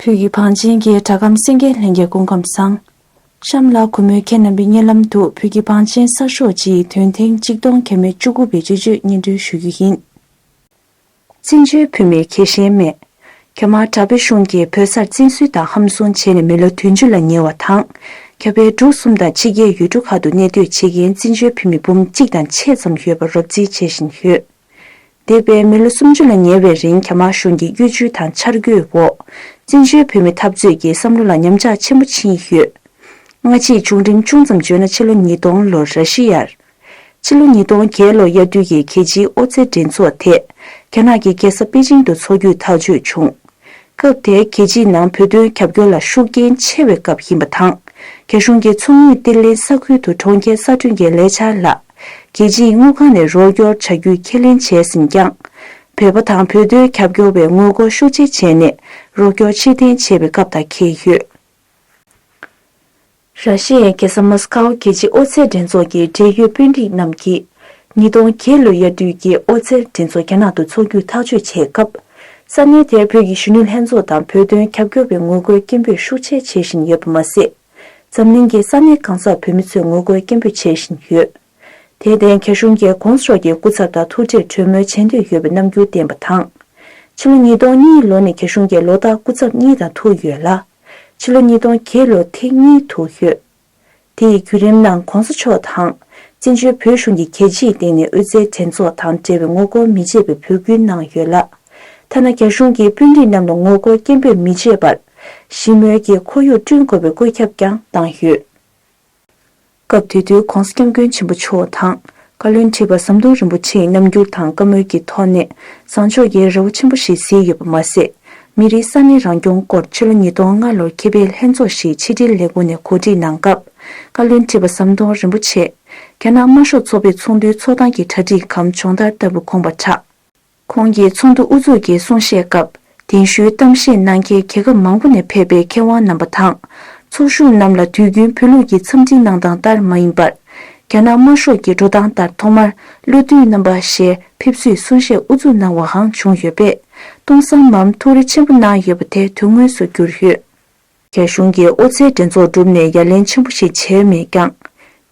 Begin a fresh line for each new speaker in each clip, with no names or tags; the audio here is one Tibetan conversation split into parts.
ཕུག་གི་བང་ཆེན་གྱི་གྲྭ་ཁམས་སེང་གེ་ལྷན་རྒྱས་སྐུ་ཁམས་བཟང། གཤམ་ལ་གུས་མོའི་ཁྱེད་རྣམ་པའི་བརྙན་ལམ་དུ་ཕུག་གི་བང་ཆེན་གསར་ཤོག་སྤྱིའི་དོན་ཐེངས་གཅིག་སྟོང་གྱ་མེད་བཅུ་དགུ་པའི་སྤྱི་སྤྱོད་སྙན་སྒྲོན་ཞུ་རྒྱུ་ཡིན། བཙན་བྱོལ་བོད་མིར་གེ་ཞེན་མེད། ཁྱོད་མ་དྲག་པོའི་གཞུང་གིས་བོད་སར་བཙན་བཟུང་དང་ཧམ་བཟུང་བྱས་ནས་མི་ལོ་དོན་བཅུ་ལ་ཉེ་བ་དང། ཁྱོད་པེ་ཀྲུག་གསུམ་དང་ཕྱི་རྒྱལ་ཡུལ་གྲུ་ཁག་ཏུ་གནས་སྡོད་བྱེད་མཁན་བཙན་བྱོལ་བོད་མི་འབུམ་གཅིག་དང་ཕྱེད་ཙམ་ཡོད་པར་རོབ་རྩིས་བྱེད་བཞིན་ཡོད། འདས་པའི་མི་ལོ་སུམ་ཅུ་ལ་ཉེ་བའི་རིང་གྱ་མ་གཞུང་གི་གཡོ་ཇུས་དང་འཆར་འགོད་འོག་བཙན་བྱོལ་བོད་མི་འཐབ་རྩོད་ཀྱི་བསམ་བློ་ལ་ཉམས་ཆག་ཆེན་པོ་ཕྱིན་ཡོད། སྔ་ཕྱིའི་བྱུང་རིམ་ཅུང་ཙམ་བརྗོད་ན་ཕྱི་ལོ་ཉིས་སྟོང་ལོར་ར་ཤི་ཡར། ཕྱི་ལོ་ཉིས་སྟོང་བརྒྱད་ལོ་དབྱར་དུས་ཀྱི་རྒྱལ་སྤྱིའི་ཨོ་རྩལ་འགྲན་ཚོགས་དེ་རྒྱ་ནག་གི་རྒྱལ་ས་པེ་ཅིང་དུ་འཚོགས་རྒྱུའི་ཐག་གཅོད་བྱུང། སྐབས་དེ་རྒྱལ་སྤྱིའི་ནང་བོད་དོན་རྒྱབ་སྐྱོར་ལ་ཤུགས་རྐྱེན་ཆེ་བའི་སྐབས་ཡིན་པ་དང། རྒྱ་གཞུང་གི་མཚོ་སྔོན་གཏེར་ལེན་ས་ཁུལ་དུ་གྲོང་ཁྱེར་གསར་སྐྲུན་གྱི་ལས་འཆར་ལ་རྒྱལ་སྤྱིའི་དངུལ་ཁང་ནས་རོགས་སྐྱོར་བྱ་རྒྱུའི་ཁས་ལེན་བྱས་ཟིན་ཀྱང། བོད་པ་དང་བོད་དོན་རྒྱབ་སྐྱོར་བས་ངོ་རྒོལ་ཤུགས་ཆེ་བྱས་ནས་རོགས་སྐྱོར་ཕྱིར་འཐེན་བྱེད་པའི་སྐབས་དང་འཁེལ་ཡོད། ར་ཤི་ཡའི་རྒྱལ་ས་མཱ་སི་ཁའོ་རྒྱལ་སྤྱིའི་ཨོ་རྩལ་འགྲན་ཚོགས་ཀྱི་འབྲེལ་ཡོད་དཔོན་རིགས་རྣམས་ཀྱིས། ཉིས་སྟོང་བརྒྱད་ལོའི་དབྱར་དུས་ཀྱི་ཨོ་རྩལ་འགྲན་ཚོགས་རྒྱ་ནག་ཏུ་འཚོགས་རྒྱུ་ཐག་གཅོད་བྱས་སྐབས། ས་གནས་དེར་བོད་ཀྱི་གཞོན་ནུ་ལྷན་ཚོགས་དང་བོད་དོན་རྒྱབ་སྐྱོར་བའི་ངོ་རྒོལ་སྐད་འབོད་ཤུགས་ཆེ་བྱེད་བཞིན་ཡོད་པ་མ་ཟད། འཛམ་གླིང་གི་ས་གནས་གང་སར་བོད་མི་ཚོས་ངོ་རྒོལ་སྐད་འབོད་བྱེད་བཞིན་ཡོད། དེར་བརྟེན་རྒྱ་གཞུང་རྒྱལ་ཁོངས་སོགས་ཀྱི་སྐུ་ཚབ་དང་ཐུག་འཕྲད་གྲོས་མོལ་བྱེད་འདོད་ཡོད་པའི་རྣམ་འགྱུར་བསྟན་པ་དང། ཕྱི་ལོ་ཉིས་སྟོང་གཉིས་ལོ་ནས་རྒྱ་གཞུང་རྒྱལ་ལོ་དག་སྐུ་ཚབ་གཉིས་དང་ཐུག་ཡོད་ལ། ཕྱི་ལོ་ཉིས་སྟོང་བརྒྱད་ལོ་ཐེངས་གཉིས་ཐུག་ཡོད། དེ་ཡི་བརྒྱུད་རིམ་ནང་གོང་ས་མཆོག་དང། བཙན་བྱོལ་བོད་གཞུང་གི་རྒྱལ་སྤྱིའི་སྟེང་ནས་དབུས་རྩའི་འགྲན་ཚོགས་དང་འབྲེལ་བའི་ངོ་རྒོལ་མི་བྱེད་པའི་འབོད་སྐུལ་གནང་ཡོད་ལ། ཐ་ན་རྒྱ་གཞུང་གིས་དཔོན་རིགས་རྣམས་ལ་ངོ་རྒོལ་སྐད་འབོད་མི་བྱེད་པར། ཞི་མོལ་གྱི་ཁོར་ཡུག་བསྐྲུན་དགོས་པའི་བཀོད་ཁྱབ་ཀྱང་བཏང་ཡོད། སྐབས་དེ་དུས ྋགོང་ས ྋསྐྱབས་མགོན་ཆེན་པོ་མཆོག་དང་བཀའ་བློན་ཁྲི་པ་ཟམ་གདོང་རིན་པོ་ཆེས་ཉམས་འགྱུར་དང་བཀའ་མོལ་གྱི་ཐོག་ནས་བཟང་ཕྱོགས་ཀྱི་རེ་བ་ཆེན་པོ་ཞིག་གཟིགས་ཡོད་པ་མ་ཟད། མི་རིགས་ས་གནས་རང་སྐྱོང་སྐོར་ཕྱི་ལོ་ཉིས་སྟོང་ལྔ་ལོར་ཁེ་ཕེ་ལྷན་ཚོགས་ཞིག་ཆིག་སྒྲིལ་ལས་ཁུངས་ནས་གོ་སྒྲིག་གནང་སྐབས་བཀའ་བློན་ཁྲི་པ་ཟམ་གདོང་རིན་པོ་ཆེས། རྒྱ་ནག་དམར་ཤོག་ཚོགས་པའི་ཚོགས་འདུའི་ཚོགས་སྟངས་ཀྱི་གྲ་སྒྲིག་གམ་སྦྱོང་བརྡར་ལྟ་བུ་ཁོང་པར་གྲགས། ཁོང་གིས་ཚོགས་འདུ་དབུ་འཛུགས་ཀྱི་གསུང་བཤད་སྐབས་གདན་ཞུའི་གཏམ་བཤད་གནང་མཁན་རྒྱལ་ཁབ་མང་པོ་ནས་ཕེབས་པའི་མཁས་དབང་རྣམ་པ་དང། ཚོགས་ཞུགས་རྣམས་ལ་དུས་རྒྱུན་བོད་ལུགས་ཀྱི་འཚམས་འདྲི་གནང་སྟངས་ལྟར་མ་ཡིན་པར། རྒྱ་ནག་དམར་ཤོག་གི་འགྲོ་སྟངས་ལྟར་ཐོག་མར་བློ་མཐུན་རྣམ་པ་ཞལ་ཕེབས་བསུའི་གསུང་བཤད་དབུ་འཛུགས་གནང་བའང་བྱུང་ཡོད་པས། སྟོང་བསམ་མམ་ཐུགས་རེ་ཆེན་པོ་གནང་ཡོད་པ་དེ་དོན་དངོས་སུ་གྱུར་ཡོད། རྒྱ་གཞུང་གིས་ཨོ་རྩལ་འགྲན་ཚོགས་བསྒྲུབས་ནས་ཡ་ལན་ཆེན་པོ་ཞིག་བྱས་མེད་ཀྱང།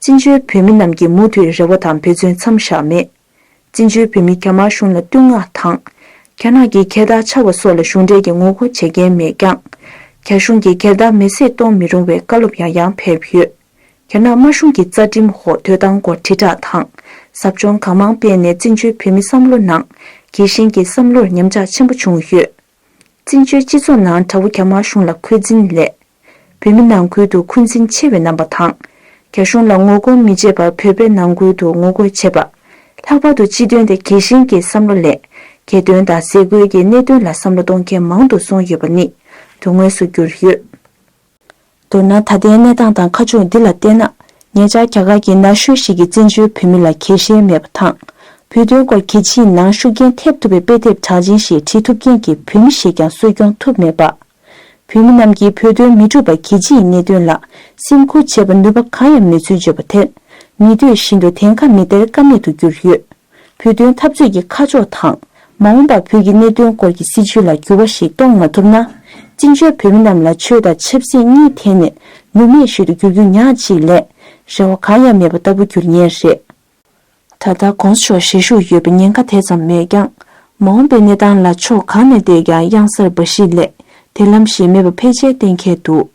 བཙན་བྱོལ་བོད་མི་རྣམས་ཀྱིས་མུ་མཐུད་རེ་བ་དང་འབད་བརྩོན་མཚམས་བཞག་མེད། བཙན་བྱོལ་བོད་མི་རྒྱ་དམར་གཞུང་ལ་བསྟུན་མངགས་དང། རྒྱ་ནག་གི་གྱེར་བདག་ཆགས་པ་སོགས་ལ་གཞུང་འབྲེལ་གྱི་ངོ་རྒོལ་བྱེད་མཁན་མེད་ཀྱང། རྒྱ་གཞུང་གིས་གྱེར་བདག་མེ་བསྲེགས་གཏོང་མི་རུང་བའི་བཀའ་སློབ་ཡང་ཡང་ཕེབས་ཡོད། རྒྱ་ནག་དམར་གཞུང་གིས་རྩ་ཁྲིམས་འོག་དོས་དང་སྒོར་དྲིལ་བསྒྲགས་དང། ཟབ་སྦྱོང་གང་མང་སྤེལ་ནས་བཙན་བྱོལ་བོད་མི་བསམ་བློ་ནང་གི་གཞན་གྱི་བསམ་བློར་ཉམས་ཆག་ཆེན་པོ་བྱུང་ཡོད། བཙན་བྱོལ་སྤྱི་ཚོགས་ནང་དགྲ་བོ་རྒྱ་དམར་གཞུང་ལ་འཁོན་འཛིན་སླད། བོད་མི་ནང་ཁུལ་དུ་འཁོན་འཛིན་ཆེ་བའི་རྣམ་པ་དང། རྒྱ་གཞུང་ལ་ངོ་རྒོལ་མི་བྱེད་པར་བོད་པའི་ནང་ཁུལ་དུ་ངོ་རྒོལ་བྱེད་པ། ལྷག་པར་དུ་སྤྱི་དོན་དེ་རྒྱལ་གཞན་གྱི་བསམ་བློ་ལས། རྒྱལ་དོན་དང་ཟས་གོས་ཀྱི་གནད་དོན་ལ་བསམ་བློ་གཏོང་མཁན་མང་དུ་སོང་ཡོད་པ་ནི་དོན་དངོས་སུ་གྱུར་ཡོད། མདོར་ན་ད་ལྟའི་གནས་སྟངས་དང་ཁ་ཕྱོགས་འདི་ལ་བལྟས་ན། ངེད་ཅག་རྒྱ་གར་གྱི་ན་གཞོན་ཞིག་གིས་བཙན་བྱོལ་བོད་མི་ལ་གལ་གཤེར་མེད་པ་དང། བོད་དོན་སྐོར་གལ་ཆེའི་ནང་ཤུགས་རྐྱེན་ཐེབས་ཐུབ་པའི་དཔེ་དེབ་གྲགས་ཅན་ཞིག་བྲིས་ཐུབ་མཁན་གྱི་བོད་མི་ཞིག་ཀྱང་གསོ་སྐྱོང་ཐུབ་མེད་པ། བོད་མི་རྣམས་ཀྱིས་བོད་དོན་མི་སྒྲུབ་པ་གལ་ཆེའི་གནད་དོན་ལ་སེམས་ཁུར་བྱེད་པར་ནུས་པ་གང་ཡང་མེད་ཚུལ་བརྗོད་པ་དེར། མི་འདོད་བཞིན་དུ་དེང་ཁ་མི་སྟེར་ཀ་མེད་དུ་གྱུར་ཡོད། བོད་དོན་འཐབ་རྩོད་ཀྱི་ཁ་ཕྱོགས་དང། མ་འོངས་པར་བོད་ཀྱི་གནད་དོན་སྐོར་གྱི་སྲིད་བྱུས་ལ་འགྱུར་བ་ཞིག་གཏོང་མ་ཐུབ་ན། བཙན་བྱོལ་བོད་མི་རྣམས་ལ་ཆོས་དང་ཆབ་སྲིད་གཉིས་ཐད་ནས་ནུབ་མེད་ཤིག་ཏུ་འགྱུར་རྒྱུ་ཉག་གཅིག་ལས། རེ་བ་གང་ཡང་མེད་པ་ལྟ་བུ་འགྱུར་ངེས་རེད། ད་ལྟ ྋགོང་ས་མཆོག་བཞེས་བཞུགས་ཡོད་པའི་ཉེན་ཁ་དེ་ཙམ་མེད་ཀྱང། མ་འོངས་པའི་གནས་སྟངས་ལ་ཕྱོགས་གང་ནས་བལྟས་ཀྱང་གཡང་གཟར་འབའ་ཞིག་ལས་དེ་ལམ་གཞན་མེད་པ་ཕལ་ཆེར་གཏན་འཁེལ་འདུག།